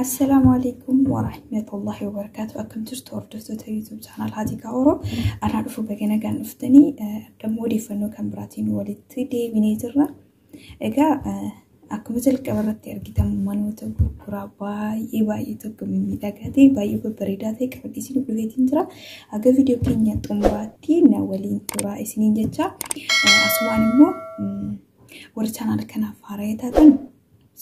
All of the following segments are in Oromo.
Assalaamu alaikum wa rahmatullahi wa barakaatu. Akkam jirtu hordoftoota YouTube chaanal Haatiikaa Oro. Anaa dhufu bagana kan dhuftanii dammoo odeeffannoo kan biraatiin walitti deebinee jirra. Egaa akkuma jalqaba irratti argitan manoota gurguraa baay'ee baay'ee tokko miidhagaa ta'e baay'ee babbareedaa ta'e qabadhe isin dhufeetiin jira. Aga viidiyoo keenya xumuraatti na waliin turaa isiniin jecha asumaan immoo warri chaanaala kanaaf haaraa taatan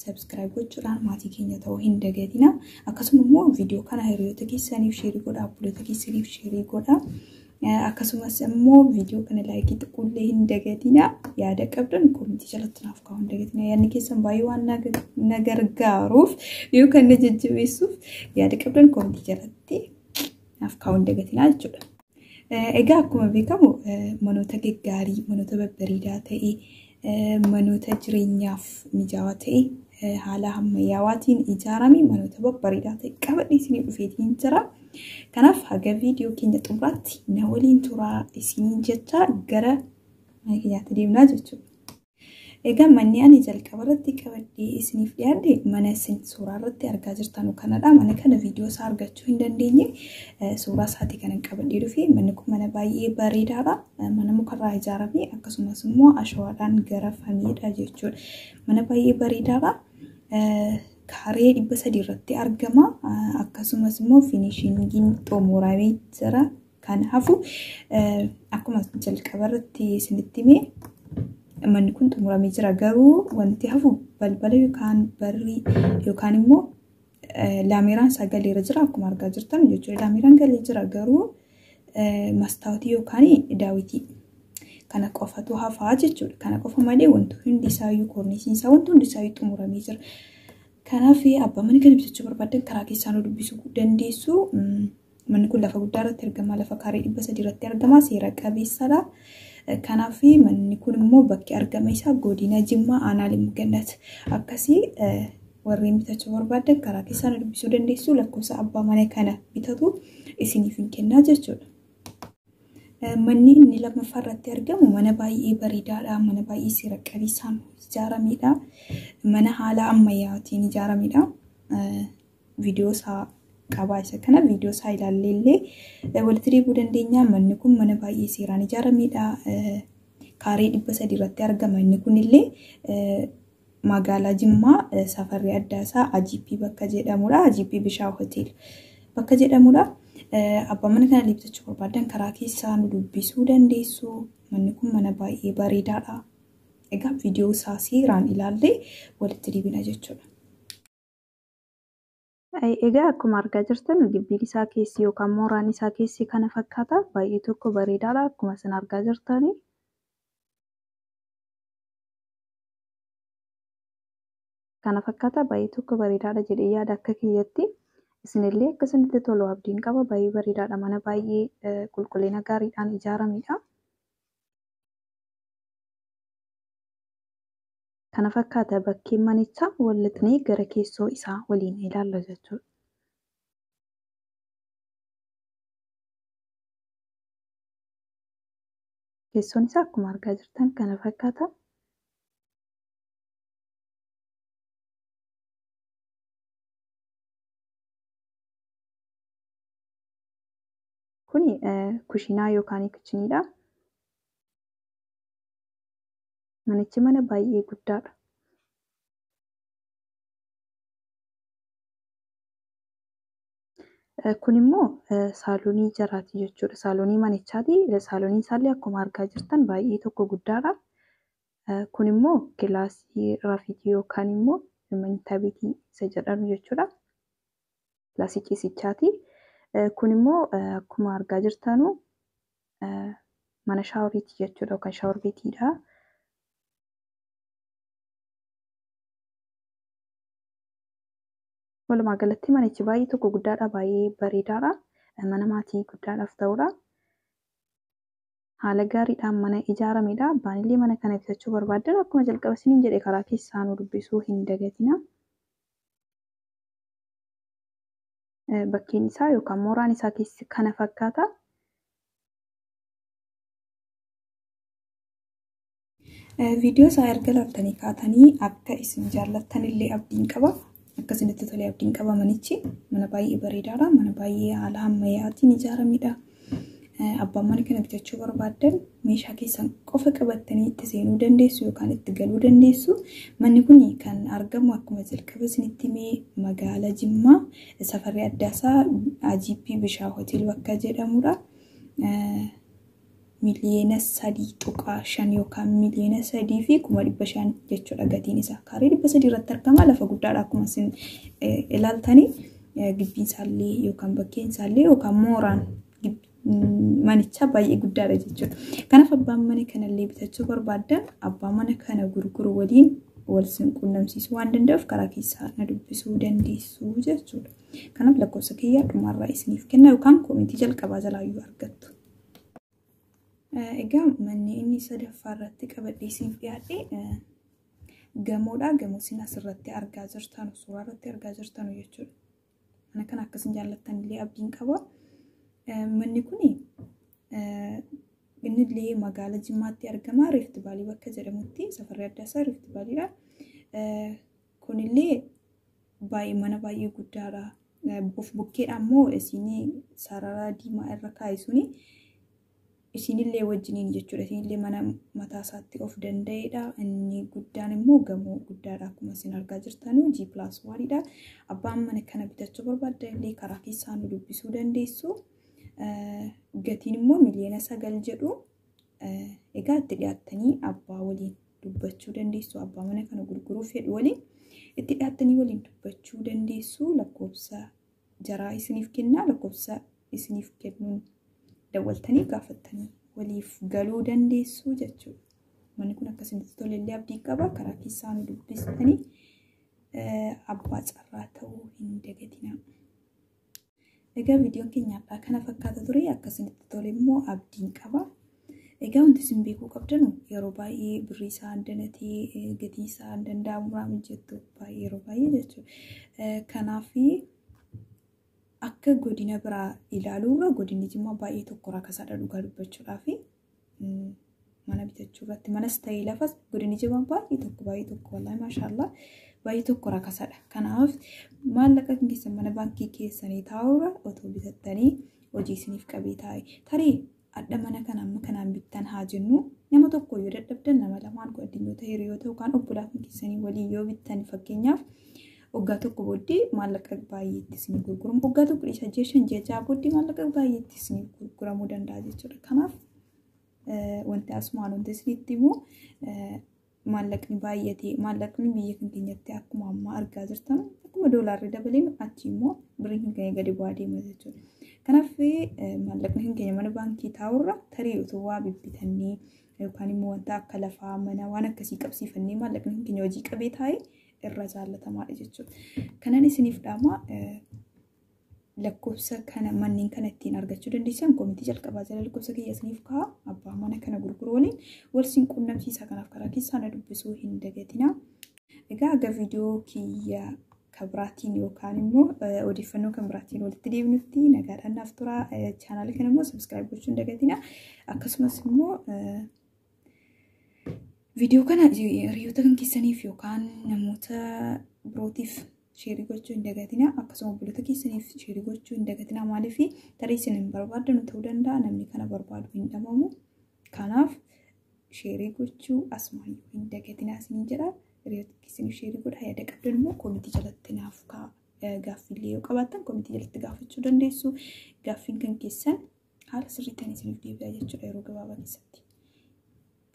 sabskiraayib gochuudhaan maatii keenya ta'uu hin dagatina. Akkasuma immoo viidiyoo kana hiriyoota keessaniif sheerii godhaa, obboleettota keessaniif sheerii godhaa. Akkasumas immoo viidiyoo kana laayikii xiqqoollee hin dagatina. Yaada qabdan koomentii jalatti naaf kaa'uu hin dagatina. Yaadni keessan baay'ee waan na gargaaruuf yookaan na jajjabeessuuf yaada qabdan koomentii jalatti naaf kaa'uu hin dagatina jechuudha. Egaa akkuma beekamu manoota gaggaarii, manoota babbareedaa ta'e Manoota jireenyaaf mijaawaa ta'e haala hammayyaawaatiin ijaarame manoota babbareedaa ta'e qabadhee isinii dhufeetiin jira. Kanaaf haga viidiyoo keenya xumuraatti na waliin turaa isiniin jechaa gara mana keenyaatti deemnaa jechuudha. Egaa manni ani jalqaba irratti qabadhee isiniif dhiyaadhe mana isin suuraa irratti argaa jirtan kanadha. Mana kana viidiyoo isaa argachuu hin dandeenye suuraa isaati kanan qabadhee dhufe. Manni kun mana baay'ee bareedaadha. mana mukarraa ijaarame akkasumas immoo ashawaadhaan garafamedha jechuudha. Mana baay'ee bareedaadha. Kaaree dhibba sadii irratti argama. Akkasumas immoo finishingiin xumuramee jira. Kan hafu akkuma jalqaba irratti isinitti hime manni kun xumuramee jira. Garuu wanti hafu balbala yookaan barri yookaan immoo Laameeraan isaa galeera jira akkuma argaa jirtan jechuudha. Laameeraan galee jira garuu mastaawotii yookaan daawwitii kana qofatu hafaa jechuudha. Kana qofa malee wanti hundi isaayyuu koornisiin isaa wanti hundi isaayyuu xumuramee jira. Kanaaf abbaa mana kana bitachuu barbaadan karaa keessaan dubbisuu dandeessu. Manni kun lafa guddaa irratti argama. Lafa kaaree dhibba sadii irratti argama. Seera qabeessadha. Kanaaf manni kun immoo bakki argama isaa godina Jimmaa aanaa Limmuu Gannat. Akkasii warreen bitachuu barbaadan karaa keessaan dubbisuu dandeessu. Lakkoofsa abbaa mana kana bitatu isiniif hin kennaa jechuudha. Manni inni lammaffaa irratti argamu mana baay'ee bareedaadha. Mana baay'ee seera qabeessaan ijaaramedha. Mana haala ammayyaatiin ijaaramedha. viidiyoo isaa qabaa isa kana viidiyoo isaa ilaallee illee walitti deebuu dandeenya. Manni kun mana baay'ee seeraan ijaarameedha. Kaaree dhibba sadii irratti argama. Inni kun illee magaalaa Jimmaa safarri addaa isaa AGP bakka jedhamudha. AGP Bishaa Hotel bakka jedhamudha. Abbaa mana kana deebisachuu barbaadan karaa keessaa nu dubbisuu dandeessu. Manni kun mana baay'ee bareedaadha. Egaa viidiyoo isaa seeraan ilaallee walitti deebina jechuudha. Egaa akkuma argaa jirtan gibbiin isaa keessi yookaan mooraan isaa keessi kana fakkaata. Baay'ee tokko bareedaadha akkuma isin argaa jirtani. Kana fakkaata baay'ee tokko bareedaadha jedhee yaada akka kiyyatti. Isinillee akka isinitti tolu abdiin qaba baay'ee bareedaadha mana baay'ee qulqullina gaariidhaan ijaaramedha. kana fakkaata bakkeen manichaa wal lixnee gara keessoo isaa waliin ilaalla jechuudha. Keessoon isaa akkuma argaa jirtan kana fakkaata. Kun kushiinaa yookaan kichiniidha. Manichi mana baay'ee guddaa dha. Kun immoo saalonii jaraati jechuudha. Saalonii manichaati. Saaloniin isaallee akkuma argaa jirtan baay'ee tokko guddaadha. Kun immoo kilaasii rafiitii yookaan immoo manyita beetii isa jedhamu jechuudha. pilasii ciisichaati. Kun immoo akkuma argaa jirtanu mana shaaworiiti jechuudha yookaan shaawor beetiidha. Walumaa galatti manichi baay'ee tokko guddaadha baay'ee bareedaadha. Mana maatii guddaadhaaf ta'udha. Haala gaariidhaan mana ijaaramedha. Abbaan illee mana kana bitachuu barbaaddan akkuma jalqaba isiniin jedhe karaa keessaa nu dubbisuu hin dagatina. bakkeen isaa yookaan mooraan isaa keessi kana fakkaata. Viidiyoo isaa erga laaltanii kaatanii akka isin jaallattan illee abdiin qaba. Akka isinitti tolee abdiin qaba manichi. Mana baay'ee bareedaadha. Mana baay'ee haala ammayyaatiin ijaaramedha. Abbaan mana kana bitachuu barbaaddan meeshaa keessan qofa qabattanii itti seenuu dandeessu yookaan itti galuu dandeessu. Manni kun kan argamu akkuma jalqaba isinitti himee magaala Jimmaa safarri addaa isaa AGP Bishaa Hotel bakka jedhamudha. Miliyoona sadii tuqaa shan yookaan miliyoona sadii fi kuma dhibba shan jechuudha gatiin isaa. Kaaree dhibba sadii irratti argama lafa guddaadha akkuma isin ilaaltanii. Gibbiin isaallee yookaan bakkeen isaallee yookaan mooraan manichaa baay'ee guddaadha jechuudha. Kanaaf abbaan mana kanallee bitachuu barbaaddan abbaa mana kana gurguru waliin wal sin quunnamsiisuu waan danda'uuf karaa keessaa na dubbisuu dandeessu jechuudha. Kanaaf lakkoofsa kiyyaa dhumarraa isiniif kenna yookaan koomentii jalqabaa jalaayyuu argattu. Egaa manni inni sadaffaa irratti qabadhee isiniif dhiyaadhe Gamoodha. Gamoo isin asirratti argaa jirtanu, suuraa irratti argaa jirtanu jechuudha. Mana kana akka isin jaallattan illee abdiin qaba. Manni kun inni illee magaala Jimmaatti argama. Riifti Vaalii bakka jedhamutti safarri adda isaa Riifti Vaaliidha. Kun illee baay'ee mana baay'ee guddaadha. Of bukkeedha immoo isin sarara diimaa irra kaa'isuuni. Isinillee wajjiniin jechuudha. Isinillee mana mataa isaatti of danda'eedha. Inni guddaan immoo gamoo guddaadha akkuma isin argaa jirtanu G plus one dha. Abbaan mana kana bitachuu barbaaddan illee karaa keessaa nu dubbisuu dandeessu. Gatiin immoo miliyoona sagal jedhu. Egaa itti dhiyaattanii abbaa waliin dubbachuu dandeessu. Abbaa mana kana gurguruuf fedhu waliin itti dhiyaattanii waliin dubbachuu dandeessu. Lakkoofsa jaraa isiniif kennaa lakkoofsa isiniif kennuun dawwaltanii gaafattanii waliif galuu dandeessuu jechuudha. Manni kun akka isinitti tole illee abdii qaba. Karaa keessaa nu dubbistanii abbaa carraa ta'uu hin dagatinaa. Egaa viidiyoon keenya har'aa kana fakkaata ture. Akka isinitti tole immoo abdiin qaba. Egaa wanti isin beekuu qabdanu yeroo baay'ee birrii isaa danatee gatii isaa danda'amurraa mijjattu baay'ee yeroo baay'ee jechuudha. Kanaaf akka godina biraa ilaaluurra godinni jimmaa baay'ee tokko rakasaadha dhugaa dubbachuudhaaf mana bitachuu irratti manas ta'ee lafas godinni jimmaa baay'ee tokko baay'ee tokko wallaahi maashaallah baay'ee tokko rakasaadha. Kanaaf maallaqa keessan mana baankii keessanii taa'uurra otoo bitattanii hojii isiniif qabee taa'e tarii Hadha mana kana amma kanaan bittan haa jennuu nama tokko yoo dadhabdan nama lamaan kun addunyoota hiriyoota yookaan obbolaa kan keessanii waliin yoo bittan fakkeenyaaf waggaa tokko booddee maallaqa baay'eetti isin gurguramu waggaa tokko dhiisa ji'a shan ji'a ja'a booddee maallaqa baay'eetti isin gurguramuu danda'a jechuudha kanaaf wanti asumaan wanti isinitti immoo maallaqni baay'atee maallaqni biyya kan keenyatti akkuma ammaa argaa jirtan akkuma doolaarri dabaleen achi immoo birrii kan keenya gadi bu'aa deema jechuudha. Kanaaf maallaqni kan keenya mana baankii taa'urra tarii otoo waa bibbitannee yookaan immoo wanta akka lafaa mana waan akkasii qabsiifannee maallaqni kan keenya hojii qabee taa'e irra jaallatamaadha jechuudha. Kanan isiniif dhaamaa lakkoofsa kana manneen kana ittiin argachuu dandeessan komitii jalqabaa jala lakkoofsa kiyya isiniif ka'a abbaa mana kana gurguru waliin wal siin quunnamsiisaa kanaaf karaa keessaa na dubbisuu hin dagatina. Egaa aga viidiyoo kiyya kan biraatiin yookaan immoo odeeffannoo kan biraatiin walitti deebinutti nagaadhaan naaf tura. Chaanaala kana immoo sabiskiraayib gochuun dagatina. Akkasumas immoo Viidiyoo kana hiriyoota kan keessaniif yookaan namoota birootiif sheerii gochuu hin dagatina akkasuma obboloota keessaniif sheerii gochuu hin dagatina maaliif tarii isin hin barbaaddan ta'uu danda'a namni kana barbaadu hin dhabamu kanaaf sheerii gochuu asumaan hin dagatina isin jedha hiriyoota keessaniif sheerii godha yaada qabdan immoo koomitii jalatti naaf ka'a gaaffiillee yoo qabaattan koomitii jalatti gaafachuu dandeessu gaaffiin kan keessan haala sirriittiin isiniif deebi'aa jechuudha yeroo gabaabaa keessatti.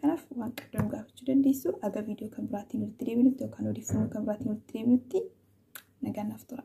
Kanaaf waan qabdan gaafachuu dandeessu aga viidiyoo kan biraatiin walitti deebinutti yookaan odeeffannoo kan biraatiin walitti deebinutti nagaan naaf tura.